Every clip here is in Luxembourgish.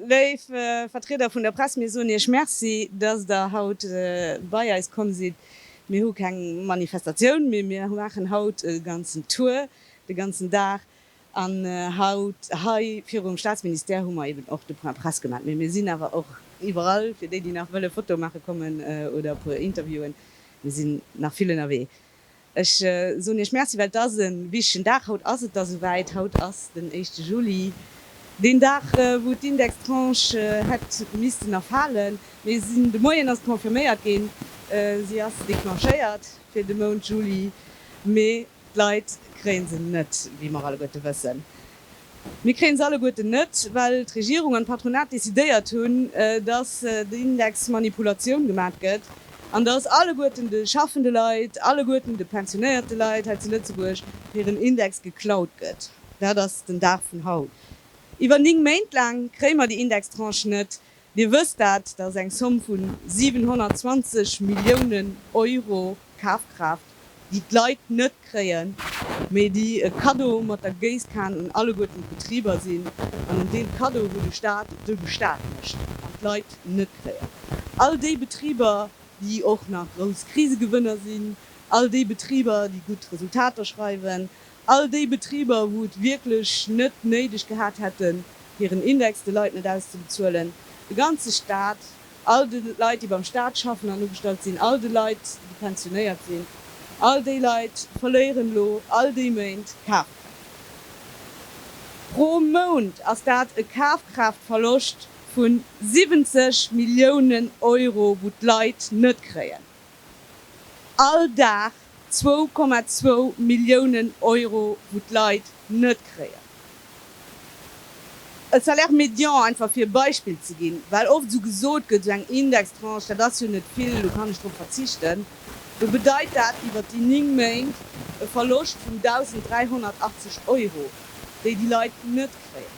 Léif Vertrieder vun der Press, mir soen Iech Merci, dass Der haut bei eis komm sidd. Mir hu keng Manifestatioun, mee mir maachen haut e ganzen Tour, de ganzen Dag, An haut hei virum Staatsministère hu mer eben och de Point presse gemaat. Mee mir sinn awer och iwwerall, fir déi, déi nach wëlle Fotoe maache kommen oder e puer Interviewen. Mir sinn nach vill ënnerwee. Ech soen Iech Merci, well et ass e wichtegen Dag. Haut ass et da souwäit, haut ass den éischte Juli, deen Dag, wou d'Indextranche hätt missten erfalen. Mee se de Moien ass et confirméiert ginn, se ass declenchéiert fir de Mount Juli. Mee D'Leit kréie se net, wéi mer alleguerte wëssen. Mir kréie se alleguerten net, well d'Regierung an d'Patronat decidéiert hunn, dass den Index Manipulatioun gemat gëtt an dass alleguerten de schaffende Leit, alleguerten de pensionéierte Leit hei zu Lëtzebuerg hiren Index geklaut gëtt. Dat ass den Dag vun haut. Iwwer 9 Méint laang kréie mer déi Indextranche net, Dir wësst dat, datt eng Zomm vun 720 Milliounen Euro Kafkraaft, déi d'Leit net kréien, mee déi e Kaddo mat der Géisskan un alleguerten d'Betriber sinn, an en Deel Kaddo, wou de Staat de Gestaat mécht an d'Leit net kréien. All déi Betriber, déi och nach grouss Krisegewënner sinn, all déi Betriber, déi gutt Resultater schreiwen, All déi Betriber, wou et wierklech net néideg gehat hätten, hiren Index de Leit net auszebezuelen, de ganze Stat, all de Leit, déi beim Stat schaffen an ugestallt sinn, all de Leit, déi pensionéiert sinn, all déi Leit verléieren elo all déi Méint Kafkraaft. Pro Mount ass dat e Kafkraaftverloscht vu 70 Milliounen Euro, wou d'Leit net kréien. All Dag zwou Komma zwou Milliounen Euro wou d'Leit net kréien. E Salaire médian, einfach fir e Beispill ze ginn, well oft esou gesot gëtt, esou eng Indextranche, dat ass jo net vill, do kann ech drop verzichten, do bedeit dat iwwert déi 9 Méint e Verloscht vun 1.380 Euro, déi déi Leit net kréien.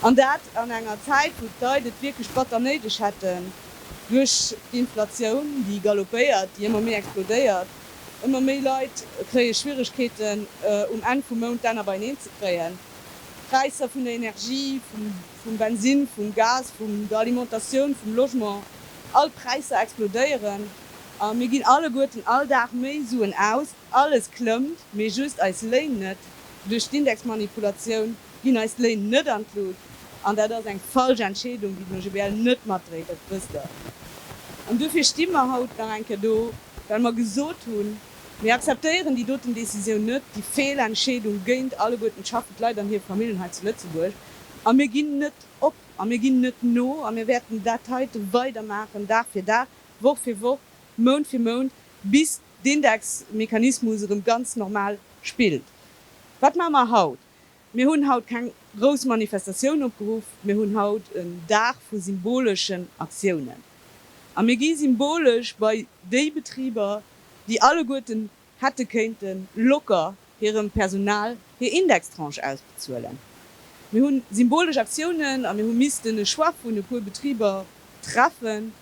An dat an enger Zäit wou d'Leit et wierklech batter néideg hätten. Duerch d'Inflatioun, déi galoppéiert, déi ëmmer méi explodéiert, ëmmer méi Leit kréie Schwieregkeeten, um Enn vum Mount d'Enner beineen ze kréien. D'Präisser vun der Energie, vum Bensinn, vum Gas, vun der Alimentatioun, vum Logement, all d'Präisser explodéieren a mir ginn alleguerten all Dag méi Suen aus. Alles klëmmt, mee just eis Léin net. Duerch d'Indexmanipulatioun ginn eis d'Léin net an d'Lut. An dat ass eng falsch Entscheedung, déi den OGBL net matdréit, dat wësst Der. An duerfir sti mer haut nach eng Kéier do, well mer gesot hunn, Mir akzeptéieren déi doten Décisioun net, déi Feelentscheedung géint alleguerten d'schaffend Leit an hir Famillen hei zu Lëtzebuerg. A mir ginn net op a mir ginn net no a mir wäerten dat heiten weidermaachen, Dag fir Dag, Woch fir Woch, Mount fir Mount, bis. d'Indexmechanismus erëm ganz normal spillt. Wat maache mer haut? Mir hunn haut keng grouss Manifestatioun opgeruff, mir hunn haut en Dag vu symboleschen Aktiounen. A mir gi symbolesch bei déi Betriber, déi alleguerten hätte kéinte locker hirem Personal hir Indextranche ausbezuelen. Mir hu symbolesch Aktiounen a mir hu missten e Choix vun e puer Betriber treffen,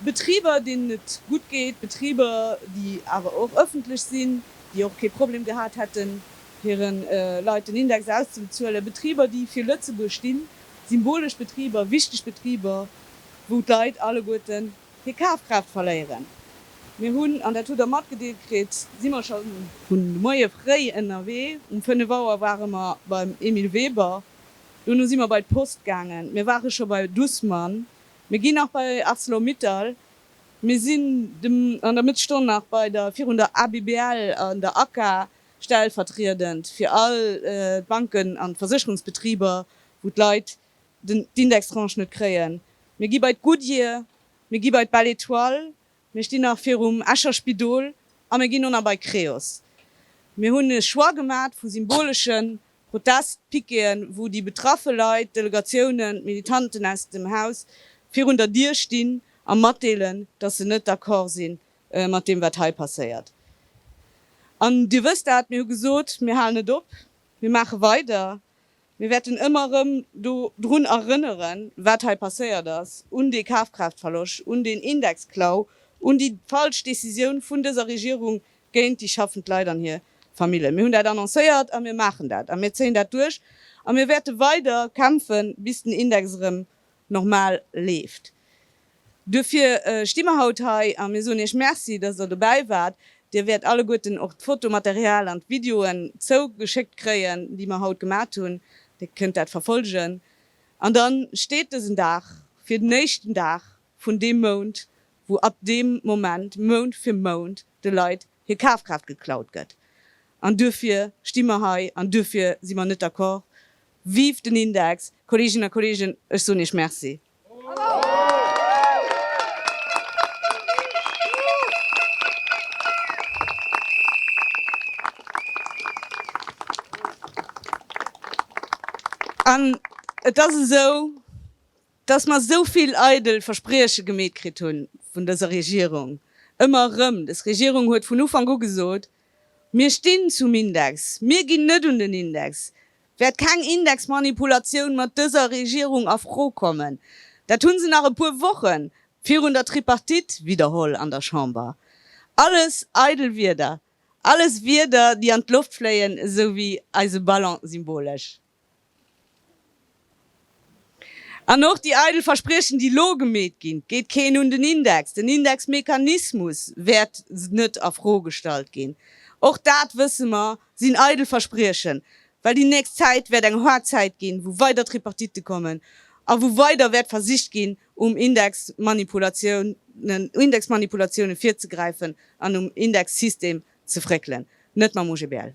Betriber, deenen et gutt geet, Betriber, déi awer och ëffentlech sinn, déi och kee Problem gehat hätten, hire Leit den Index auszebezuelen, Betriber, déi fir Lëtzebuerg stinn, symbolesch Betriber, wichteg Betriber, wou d'Leit alleguerten Hir Kafkraaft verléieren. Mir hunn, an dat hutt Der matgedeelt kritt, si mer scho. Vun de Moie fréi ënnerwee. Um 5 Auer ware mer beim Emile Weber. Dono si mer bei d'Post gaangen. Mir ware scho bei Dussmann. Mir ginn nach bei Arcelor-Mittal. Mir sinn dem an der Mëttesstonn nach bei der, virun der ABBL an der ACA, stellvertriedend fir all d'Banken an d'Versécherungsbetriber, wou d'Leit d'Indextranche net kréien, mir gi bei d'Goodyear, mir gi bei d'Belle Etoile, mir stinn nach virum Escher Spidol a mir ginn elo nach bei Creos. Mir hunn e Choix gemat vu symbolesche Protestpiqueten, wou déi betraffe Leit, d'Delegatiounen, d'Militanten aus dem Haus virun der Dier stinn a matdeelen, dass se net d'accord si mat deem, wat hei passéiert. An Dir wësst dat, mir hu gesot, mir halen net op, mir maache weider. Mir wäerten ëmmer erëm do drun erënneren, wat hei passéiert ass, un dee Kafkraaftverloscht, un deen Indexklau, un déi falsch Décisioun vun dëser Regierung géint déi schaffend Leit an hir Familljen. Mir hunn dat annoncéiert a mir maachen dat a mir zéien dat duerch a mir wäerte weider kämpfen, bis den Index erëm normal leeft. Duerfir sti mer haut hei a mir soen Iech Merci, dass Der dobäi waart. Dir wäert alleguerten och d'Fotomaterial an d'Videoen zougeschéckt kréien, déi mer haut gemat hunn. Dir kënnt dat verfolgen. An da steet dësen Dag fir den éischten Dag vun deem Mount, wou ab deem Moment Mount fir Mount de Leit hir Kafkraaft geklaut gëtt. An duerfir sti mer hei an duerfir si mer net d'accord. Vive den Index! Kolleeginnen a Kolleegen, ech soen Iech Merci. An et ass esou, dass mer esou vill eidel Versprieche gemeet kritt hu vun dëser Regierung, ëmmer erëm. Des Regierung huet vun Ufank u gesot, Mir stinn zum Index, mir ginn net un den Index. wäert keng Indexmanipulatioun mat dëser Regierung a Fro kommen. Dat hu se nach e puer Woche virun der Tripartite widderholl an der Chamber. Alles eidel Wierder, alles Wierder, déi an d'Loft fléien, esou wéi eise Ballon, symbolesch. An och déi eidel Verspriechen, déi elo gemeet ginn, geet keen un den Index, den Indexmechanismus wäert net a Fro gestallt ginn, och dat wësse mer, sinn eidel Verspriechen, well déi nächst Zäit wäert eng haart Zäit ginn, wou weider Tripartite kommen a wou weider wäert versicht ginn, um Indexmanipulatiounen Indexmanipulatiounen virzegräifen an um Indexsystem ze fréckelen, net mam OGBL.